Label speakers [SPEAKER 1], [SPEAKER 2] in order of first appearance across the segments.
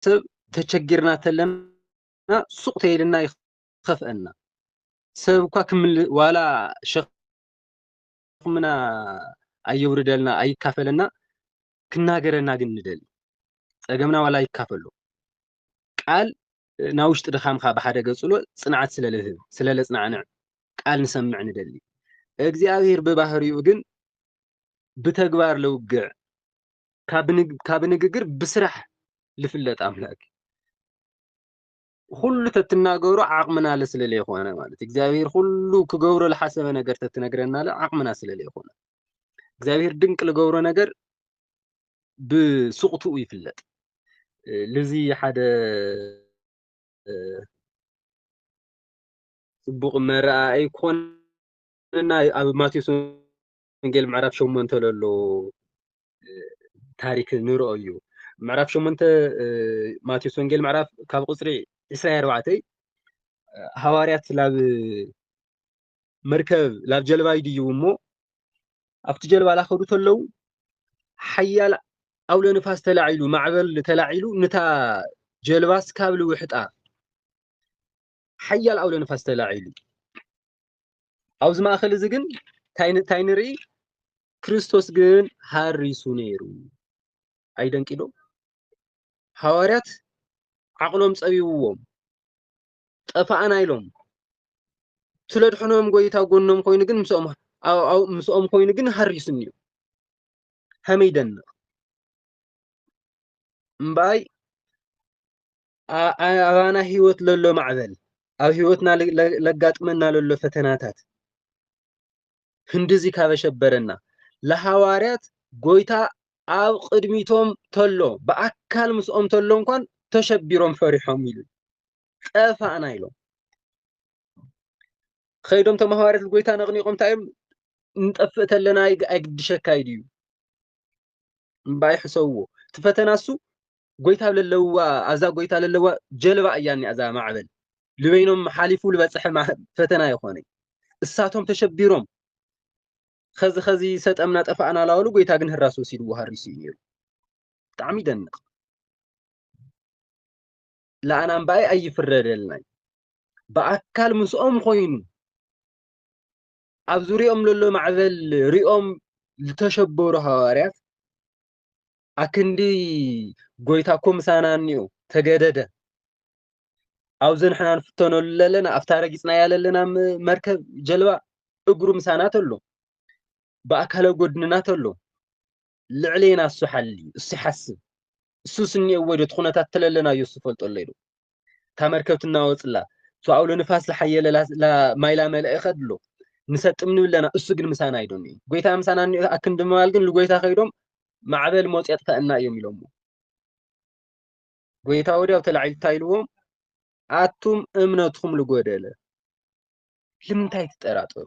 [SPEAKER 1] ሰብ ተቸጊርና ተለና ሱቕ ተይልና ይኸፍአና ሰብ እኳ ክምል ዋላ ሸኽምና ኣየውርደልና ኣይካፈለና ክናገረና ግን ንደሊ ጸገምና ዋላ ይካፈሎ ቃል ናብ ውሽጢ ድኻምካ ብሓደ ገጽሎ ጽንዓት ስለ ልህብ ስለ ለጽናዕንዕ ቃል ንሰምዕ ንደሊ እግዚኣብሔር ብባህሪኡ ግን ብተግባር ለውግዕ ካብ ንግግር ብስራሕ ልፍለጥ ኣምላክ ኩሉ ተትናገሩ ዓቕምናለ ስለለይኮነ ማለት እግዚኣብሔር ኩሉ ክገብሮ ዝሓሰበ ነገር ተትነግረናለ ዓቕምና ስለለይኮነ እግዚኣብሔር ድንቅ ልገብሮ ነገር ብስቕትኡ ይፍለጥ ልዚ ሓደ ጽቡቕ መረኣይ ኮንና ኣብ ማቴዎስ ወንጌል ምዕራፍ ሸሞንተ ለሎ ታሪክ ንርኦ እዩ ምዕራፍ ሸሞንተ ማቴዎስ ወንጌል ምዕራፍ ካብ ቁፅሪ ዕስራ ኣርባዕተ ሃዋርያት ላብ መርከብ ላብ ጀልባ ይድዩ እሞ ኣብቲ ጀልባ ላኸዱ ተለው ሓያል ኣውሎ ንፋስ ተላዒሉ ማዕበል ተላዒሉ ንታ ጀልባስ ካብ ልውሕጣ ሓያል ኣውሎ ንፋስ ተላዒሉ ኣብዚ ማእኸል እዚ ግን እንታይ ንርኢ ክርስቶስ ግን ሃሪሱ ነይሩ ኣይደንቂዶ ሃዋርያት ዓቕሎም ፀቢብዎም ጠፋኣና ኢሎም ስለድሕኖም ጎይታ ጎኖም ኮይኑ ግን ምስኦም ምስኦም ኮይኑ ግን ሃሪሱኒ እዩ ከመይ ይደንቕ እምበኣይ ኣባና ህይወት ለሎ ማዕበል ኣብ ህይወትና ለጋጥመና ለሎ ፈተናታት ህንድዚ ካበሸበረና ለሃዋርያት ጎይታ ኣብ ቅድሚቶም ተሎ ብኣካል ምስኦም ተሎ እንኳን ተሸቢሮም ፈሪሖም ኢሉ ጠፋእና ኢሎም ከይዶም ቶም ሃዋርያት ጎይታ ነቕኒቖም እንታይ እዮም ንጠፍእ ተለና ኣይግድሸካ እዩ ድዩ እምባይ ሕሰብዎ እቲ ፈተና እሱ ጎይታ ለለዋ ኣብዛ ጎይታ ለለዋ ጀልባ እያ እኒኣ እዛ ማዕበል ልበይኖም ሓሊፉ ልበፅሐ ፈተና ይኾነ እሳቶም ተሸቢሮም ከዚ ከዚ ሰጠምና ጠፋእና ላበሉ ጎይታ ግን ህራስ ወሲድዎ ሃሪሱ እዩ ነይሩ ብጣዕሚ ይደንቕ ለኣና እምበኣይ ኣይፍረደልና ብኣካል ምስኦም ኮይኑ ኣብ ዙሪኦም ለሎ ማዕበል ሪኦም ዝተሸበሩ ሃዋርያት ኣክንዲ ጎይታ እኮ ምሳና እኒኦ ተገደደ ኣብዚ ንሕና ንፍተነሉ ለለና ኣብታ ረጊፅናያ ለለና መርከብ ጀልባ እግሩ ምሳና ተሎ ብኣካለ ጎድንና ተሎ ልዕሌና እሱ ሓልዩ እሱ ይሓስብ እሱ ስኒኤዎ ዶ ትኹነታት ተለለናዮ እሱ ፈልጠሎ ኢሉ እታ መርከብ ትናወፅላ እሱ ኣውሎ ንፋስ ዝሓየለ ማይላ መለእ ይኸድሎ ንሰጥም ንብለና እሱ ግን ምሳና ኣይዶን እዩ ጎይታ ምሳና እኒኦ ኣክንዲ ምባል ግን ልጎይታ ከይዶም ማዕበል ሞፅ የጥፈእና እዮም ኢሎሞ ጎይታ ወዲያው ተላዒሉ እንታይ ኢልዎም ኣቱም እምነትኩም ልጎደለ ልምንታይ ትጠራጠሩ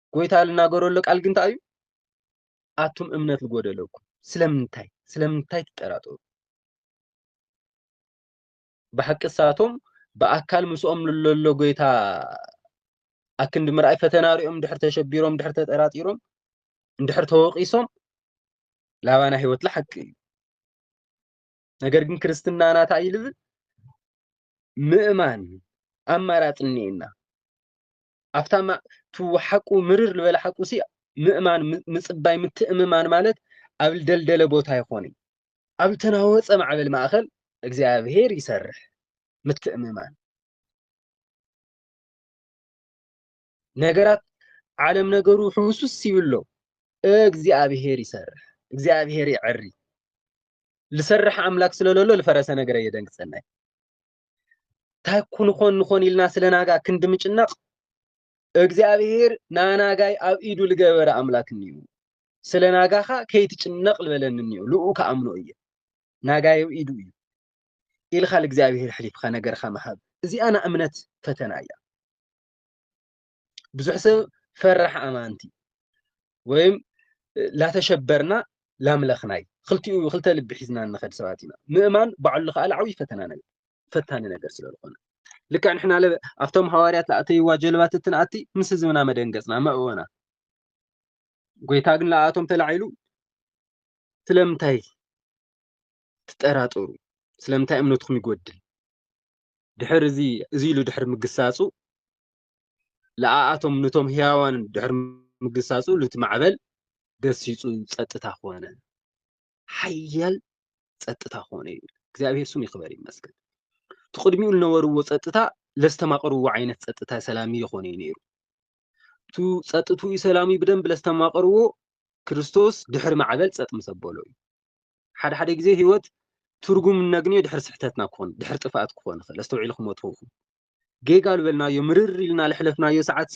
[SPEAKER 1] ጎይታ ልናገረሉ ቃል ግን እንታይ እዩ ኣቱም እምነት ዝጎደለኩም ስለምንታይ ስለምንታይ ትጠራጠሩ ብሓቂ ሳቶም ብኣካል ምስኦም ለሎ ጎይታ ኣክንዲ ምርኣይ ፈተና ሪኦም ድሕር ተሸቢሮም ድሕር ተጠራጢሮም እንድሕር ተወቂሶም ላባና ህይወት ሓቂ እዩ ነገር ግን ክርስትና ናታ ይልብል ምእማን ኣማራፂ እኒኤና ኣብታ ሓቁ ምርር ዝበለ ሓቁ ሲ ምእማን ምጽባይ ምትእምማን ማለት ኣብ ደልደለ ቦታ ይኾን እዩ ኣብ ተናወፀ ማዕበል ማእኸል እግዚኣብሄር ይሰርሕ ምትእምማን ነገራት ዓለም ነገሩ ሕውሱስ ይብሎ እግዚኣብሄር ይሰርሕ እግዚኣብሄር ይዕሪ ልሰርሕ ኣምላክ ስለለሎ ልፈረሰ ነገር የደንግፀናይ እንታይ ኩን ኾን ንኾን ኢልና ስለ ናጋ ክንዲ ምጭናቕ እግዚኣብሄር ናናጋይ ኣብ ኢዱ ዝገበረ ኣምላክ እኒኡ ስለ ናጋኻ ከይትጭነቕ ዝበለኒ እኒኡ ልኡ ከኣምኖ እየ ናጋይ ኣብ ኢዱ እዩ ኢልካ ልእግዚኣብሄር ሕሊፍካ ነገርካ ምሃብ እዚኣ ንእምነት ፈተና እያ ብዙሕ ሰብ ፈራሕ ኣማንቲ ወይም ላተሸበርና ላምለኽናይ ክልቲኡ ክልተ ልቢ ሒዝና ንኸድ ሰባት ኢና ምእማን ባዕሉ ከዓ ዓብዪ ፈተና ነገር ፈታኒ ነገር ስለ ዝኾነ ልክዕ ንሕና ለ ኣብቶም ሃዋርያት ኣተይዋ ጀልባት እትንኣቲ ምስ ህዝብና መደንገፅና መእወና ጎይታ ግን ለኣቶም ተላዒሉ ስለምንታይ ትጠራጠሩ ስለምንታይ እምነትኩም ይጎድል ድሕሪ እዚ እዚ ኢሉ ድሕሪ ምግሳጹ ለኣኣቶም ንቶም ህያዋን ድሕሪ ምግሳጹ ሉቲ ማዕበል ገሲጹ ጸጥታ ኮነ ሓያል ጸጥታ ኮነ እዩ እግዚኣብሔር ስም ይክበር ይመስገን ትቅድሚኡ ዝነበርዎ ጸጥታ ለስተማቅርዎ ዓይነት ጸጥታ ሰላም ይኾነ እዩ ነይሩ እቱ ጸጥትኡ ሰላም ብደንብ ለስተማቅርዎ ክርስቶስ ድሕሪ ማዕበል ጸጥ ምሰበሎ እዩ ሓደ ሓደ ግዜ ህይወት ትርጉም እነግንዮ ድሕሪ ስሕተትና ክኾን ድሕሪ ጥፍኣት ክኾን ይኽእል ኣስተውዒልኩሞ ትኸውን ጌጋ ዝበልናዮ ምርር ኢልና ለሕለፍናዮ ሰዓትሲ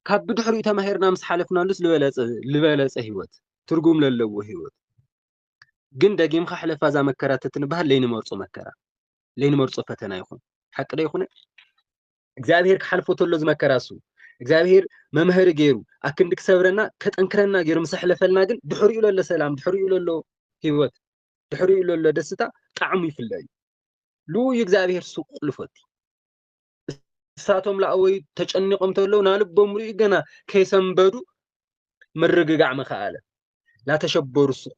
[SPEAKER 1] ካብ ብድሕሪኡ ተማሂርና ምስ ሓለፍናሉስ ዝበለፀ ህይወት ትርጉም ለለዎ ህይወት ግን ደጊምካ ሕለፋ እዛ መከራ ተትንበሃል ለይንመርፆ መከራ ለይንመርፆ ፈተና ይኹን ሓቂ ዶ ይኹነ እግዚኣብሄር ክሓልፎ ተሎ ዝመከራ እሱ እግዚኣብሄር መምሀሪ ገይሩ ኣክንዲ ክሰብረና ከጠንክረና ገይሩ ምስ ኣሕለፈልና ግን ድሕሪኡ ለሎ ሰላም ድሕሪኡ ለሎ ሂወት ድሕሪኡ ለሎ ደስታ ጣዕሙ ይፍለ እዩ ልኡዩ እግዚኣብሄር ሱቅ ልፎቲ እሳቶም ላእወዩ ተጨኒቆም ተለዉ ናልቦም ርእዩ ገና ከይሰንበዱ ምርግጋዕ መኸኣለ ናተሸበሩ ሱቅ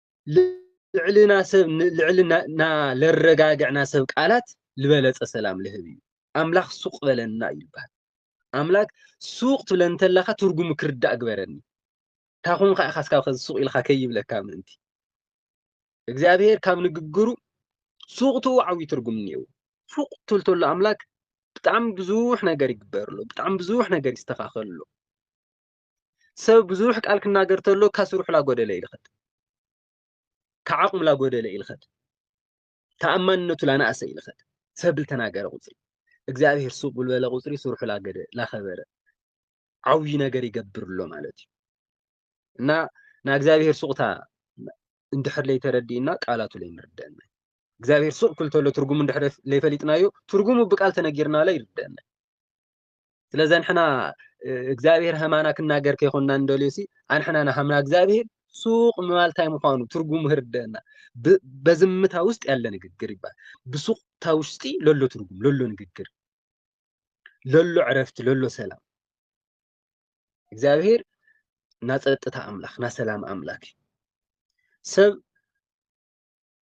[SPEAKER 1] ልዕልና ሰብ ልዕልና ለረጋግዕና ሰብ ቃላት ዝበለፀ ሰላም ልህብ እዩ ኣምላኽ ሱቅ በለና እዩ ይበሃል ኣምላክ ሱቅ ትብለ እንተለካ ትርጉሙ ክርዳእ ግበረኒ ታኹም ከዓ ካስካ ከዚ ሱቅ ኢልካ ከይብለካ ምእንቲ እግዚኣብሄር ካብ ንግግሩ ሱቅቱ ዓብዪ ትርጉም እኒአው ሱቅ ትብል ተሎ ኣምላክ ብጣዕሚ ብዙሕ ነገር ይግበርሎ ብጣዕሚ ብዙሕ ነገር ይስተኻኸልሎ ሰብ ብዙሕ ቃል ክናገር ተሎ ካብ ስርሑ ላጎደለ ይልኸድ ካብ ዓቕሙ ላጎደለ ይልኸድ ተኣማንነቱ ላነኣሰ ይልኸድ ሰብ ልተናገረ ቁፅሪ እግዚኣብሔር ሱቅ ብልበለ ቁፅሪ ስርሑ ላገደ ላኸበረ ዓብይ ነገር ይገብር ኣሎ ማለት እዩ እና ናይ እግዚኣብሔር ሱቅታ እንድሕር ለይተረዲእና ቃላቱ ለይንርደአና እግዚኣብሔር ሱቅ ክልተሎ ትርጉሙ እንድሕር ለይፈሊጥናዮ ትርጉሙ ብቃል ተነጊርና ለ ይርደአና ስለዚ ንሕና እግዚኣብሔር ሃማና ክናገር ከይኮንና እንደልዮ ሲ ኣንሕና ንሃምና እግዚኣብሔር ሱቅ ምባል እንታይ ምዃኑ ትርጉሙ ህርደና በዝምታ ውስጥ ያለ ንግግር ይባል ብሱቅታ ውሽጢ ለሎ ትርጉም ለሎ ንግግር ለሎ ዕረፍቲ ለሎ ሰላም እግዚኣብሔር ናፀጥታ ኣምላክ ናሰላም ኣምላክ እዩ ሰብ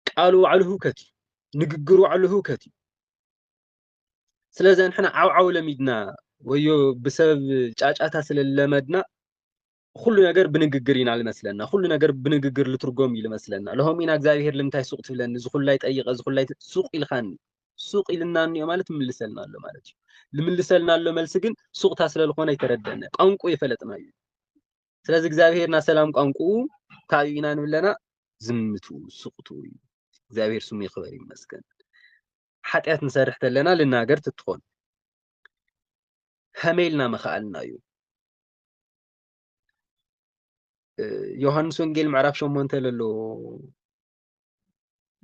[SPEAKER 1] ቃሉ ባዕሉ ህውከት እዩ ንግግሩ ባዕሉ ህውከት እዩ ስለዚ ንሕና ዓውዓው ለሚድና ወዮ ብሰብ ጫጫታ ስለለመድና ኩሉ ነገር ብንግግር ኢና ልመስለና ኩሉ ነገር ብንግግር ልትርጎም እዩ ልመስለና ለሆም ኢና እግዚኣብሄር ልምንታይ ሱቅ ትብለኒ እዚ ኩላይ ጠይቀ እዚ ኩላይ ሱቅ ኢልካኒ ሱቅ ኢልና እኒኦ ማለት ምልሰልና ኣሎ ማለት እዩ ልምልሰልና ኣሎ መልሲ ግን ሱቅታ ስለልኾነ ይተረደነ ቋንቁ የፈለጥና እዩ ስለዚ እግዚኣብሄርና ሰላም ቋንቁኡ ካብኡ ኢና ንብለና ዝምቱ ሱቅቱ እዩ እግዚኣብሄር ስሙ ይክበር ይመስገን ሓጢኣት ንሰርሕ ተለና ልናገር ትትኾን ሀመይ ኢልና መኸኣልና እዩ ዮሃንስ ወንጌል ምዕራፍ ሸሞንተ ለሎ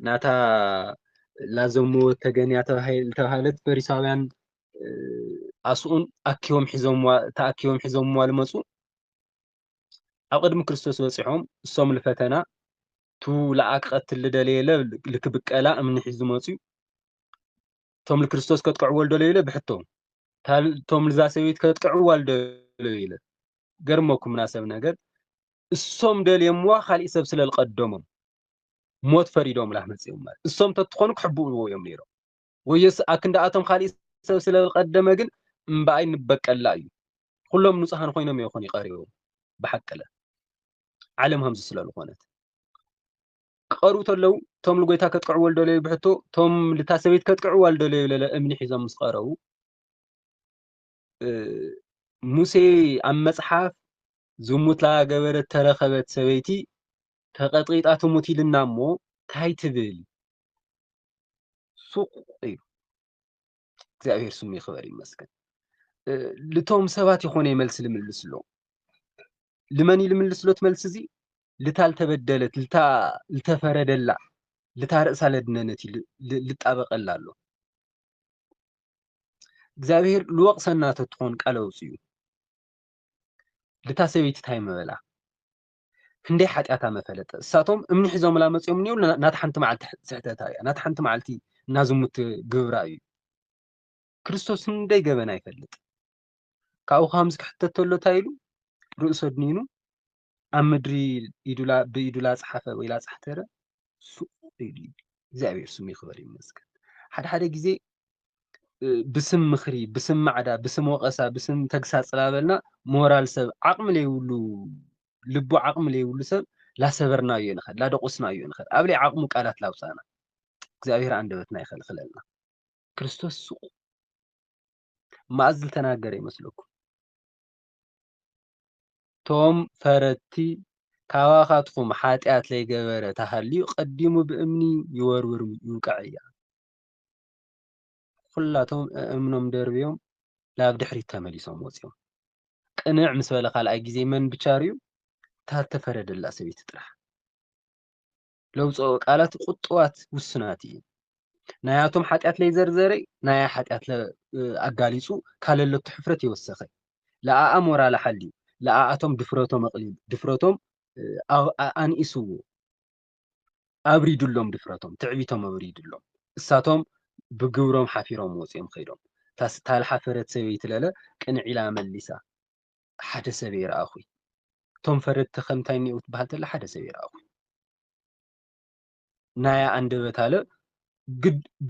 [SPEAKER 1] ናታ ላዘሙ ተገንያ ዝተባሃለት ፈሪሳውያን ኣስኡን ኣኪቦም ሒዞምዋ ተኣኪቦም ሒዞምዋ ዝመፁ ኣብ ቅድሚ ክርስቶስ በፂሖም እሶም ልፈተና እቱ ለኣ ክቐትል ልደለየ ለ ልክብቀላ እምኒ ሒዙ መፅዩ እቶም ልክርስቶስ ከጥቀዕዎ ልደለዩ ለ ብሕቶ እቶም ልዛ ሰበይት ከጥቀዕዋ ልደለዩ ለ ገርመኩም ናሰብ ነገር እሶም ደልየምዋ ካሊእ ሰብ ስለ ዝቀደሞም ሞት ፈሪዶም ላህ መፅኦም ማለት እሶም ተትኾኑ ክሕብእዎ እዮም ነይሮም ወዮስ ኣክንዳኣቶም ኻሊእ ሰብ ስለቀደመ ግን እምባኣይ ንበቀላ እዩ ኹሎም ንጹሃን ኾይኖም እዮ ኹኒ ቀሪቦም ብሓቅለ ዓለም ሀምዚ ስለልኾነት ክቀርቡ ተለው ቶም ልጎይታ ከጥቅዕዎ ልደለዩ ብሕቶ ቶም ልታ ሰበይት ከጥቅዕዋ ልደለዩ ለለ እምኒ ሒዞም ምስ ቀረቡ ሙሴ ኣብ መጽሓፍ ዝሙት ላገበረት ተረኸበት ሰበይቲ ተቐጥቂጣ ትሙት ኢልና እሞ ታይ ትብል ሱቅ እዩ እግዚኣብሔር ስሙ ይክበር ይመስገን ልቶም ሰባት ይኮነ ይመልስ ልምልስ ኣሎ ልመን ልምልስ ሎት መልስ እዚ ልታ ልተበደለት ልታ ልተፈረደላ ልታ ርእሳ ለድነነት ልጣበቀላ ኣሎ እግዚኣብሔር ልወቅሰና ተትኾን ቃለ ውፅኡ ልታ ሰበይቲ ታይ መበላ ክንደይ ሓጢኣታ መፈለጠ እሳቶም እምኒ ሒዞምላ መፅኦም እኒው ናቲ ሓንቲ መዓልቲ ስሕተታ እያ ናቲ ሓንቲ መዓልቲ እናዝሙት ግብራ እዩ ክርስቶስ ክንደይ ገበና ይፈልጥ ካብኡ ከምዚ ክሕተት ተሎ እንታይ ኢሉ ርእሶ ኣድኒኑ ኣብ ምድሪ ብኢዱ ላፅሓፈ ወይ ላፅሕተረ እግዚኣብሔር ስሙ ይክበር ይመስገን። ሓደ ሓደ ግዜ ብስም ምክሪ፣ ብስም ማዕዳ፣ ብስም ወቀሳ፣ ብስም ተግሳፅ ላበልና ሞራል ሰብ ዓቅሚ ለይብሉ ልቡ ዓቅሚ ለይብሉ ሰብ ላሰበርናዮ ንኸድ ላደቆስናዮ ንኸድ ኣብ ለይ ዓቅሙ ቃላት ላውፃና እግዚኣብሔር ኣንደበትና ይኸልክለልና። ክርስቶስ ስቁ ማእዝ ዝተናገረ ይመስለኩም? ቶም ፈረድቲ ካባኻትኩም ሓጢኣት ለይገበረ ተሃልዩ ቀዲሙ ብእምኒ ይወርውር ይውቀዕያ። ኹላቶም እእምኖም ደርብዮም ናብ ድሕሪት ተመሊሶም ወፂኦም። ቅንዕ ምስ በለ ካልኣይ ጊዜ መን ብቻ ሪኡ? እታ እተፈረደላ ሰበይቲ ጥራሕ። ለውጽኦ ቃላት ቁጥዋት ውስናት እየ ናያቶም ሓጢኣት ለይዘርዘረ ናያ ሓጢኣት ኣጋሊጹ ካለለቱ ሕፍረት የወሰኸ ለኣኣ ሞራል ሓልዩ ለኣኣቶም ድፍረቶም ኣቕሊሉ ድፍረቶም ኣንኢስዎ ኣብሪዱሎም ድፍረቶም ትዕቢቶም ኣብሪዱሎም እሳቶም ብግብሮም ሓፊሮም ወፂኦም ከይዶም ታልሓፈረት ሰበይቲ ለለ ቅንዒላ መሊሳ ሓደ ሰብ እየ ረኣኹይ እቶም ፈረድቲ ከምታይ እኒኦው ትበሃል ተላ ሓደ ሰብ እየ ረኣኹይ ናያ ኣንደበት ኣለ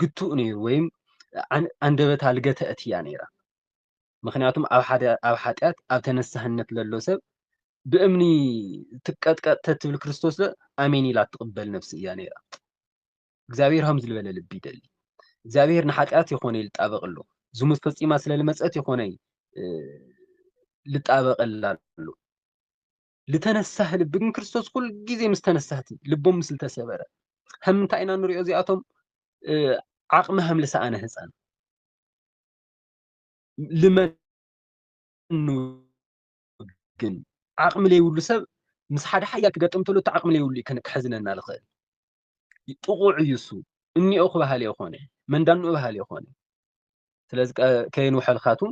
[SPEAKER 1] ግቱእ ነይሩ ወይም ኣንደበት ኣልገተ እትያ ነይራ ምክንያቱም ኣብ ሓደ ኣብ ሓጢኣት ኣብ ተነሳህነት ለሎ ሰብ ብእምኒ ትቀጥቀጥ ተትብል ክርስቶስ ኣሜን ኢላ ትቕበል ነፍሲ እያ ነይራ እግዚኣብሔር ሃም ዝልበለ ልቢ ይደሊ እግዚኣብሔር ንሓጢኣት ይኾነ ይልጣበቅ ኣሎ ዝሙት ፈጺማ ስለ ልመጸት ይኾነ ልጣበቀላ ኣሎ ልተነሳህ ልቢ ግን ክርስቶስ ኩል ግዜ ምስ ተነሳህቲ ልቦም ምስ ልተሰበረ ከም ምንታይ ኢና ንሪኦ እዚኣቶም ዓቕሚ ሃም ልሰኣነ ህፃን ልመን ግን ዓቕሚ ለይብሉ ሰብ ምስ ሓደ ሓያል ክገጥም ተሎ እቲ ዓቕሚ ለይብሉ እዩ ከሕዝነና ዝኽእል ጥቑዕ እዩ እሱ እኒኦ ክበሃል የኾነ መንዳንኡ በሃል የኾነ ስለዚ ከየንውሐልካቱም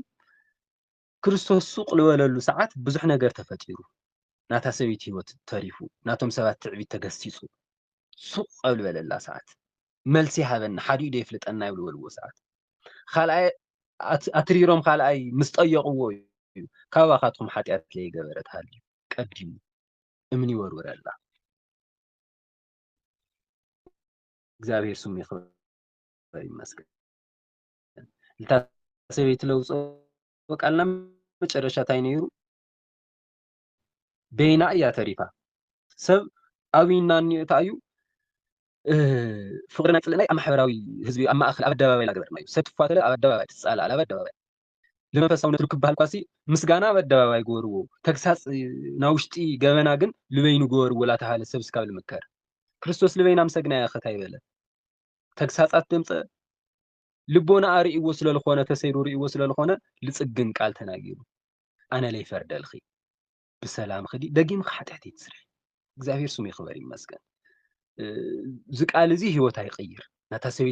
[SPEAKER 1] ክርስቶስ ሱቅ ዝበለሉ ሰዓት ብዙሕ ነገር ተፈጢሩ ናታ ሰበይቲ ህይወት ተሪፉ ናቶም ሰባት ትዕቢት ተገሲጹ ሱቅ ኣብ ዝበለላ ሰዓት መልሲ ሃበና ሓዲኡ ዶ የፍልጠና ይብሉ በልዎ ሰዓት ካልኣይ ኣትሪሮም ካልኣይ ምስ ጠየቕዎ እዩ ካባኻትኩም ሓጢኣት ለይገበረት ሃልዩ ቀዲሙ እምኒ ወርውረላ እግዚኣብሔር ስሙ ይክበር ይመስገን እታ ሰበይቲ ለውፆ ቃልና መጨረሻ እንታይ ነይሩ በይና እያ ተሪፋ ሰብ ኣብይና እኒኦ እታ እዩ ፍቅሪ ናይ ፅልእናይ ኣብ ማሕበራዊ ህዝቢ ኣብ ማእከል ኣብ ኣደባባይ ገበርናዩ ሰብ ትፋተለ ኣብ ኣደባባይ ትፃላል ኣብ ኣደባባይ ልመንፈሳውነት ርክብ በሃልኳሲ ምስጋና ኣብ ኣደባባይ ግበርዎ ተግሳጽ ናብ ውሽጢ ገበና ግን ልበይኑ ግበርዎ ላተብሃለ ሰብ እስካብ ልምከር ክርስቶስ ልበይና ምሰግና ያኸት ኣይበለ ተግሳጻት ደምጸ ልቦና ኣርእይዎ ስለልኾነ ተሰይሩ ርእይዎ ስለልኾነ ልጽግን ቃል ተናጊሩ ኣነ ለይፈርደልኺ ብሰላም ኽዲ ደጊም ኻሓጢሕት ይትስርሒ እግዚኣብሔር ስሙ ይኽበር ይመስገን እዚ ቃል እዚ ህይወት ኣይቅይር ናታ ሰበይቲ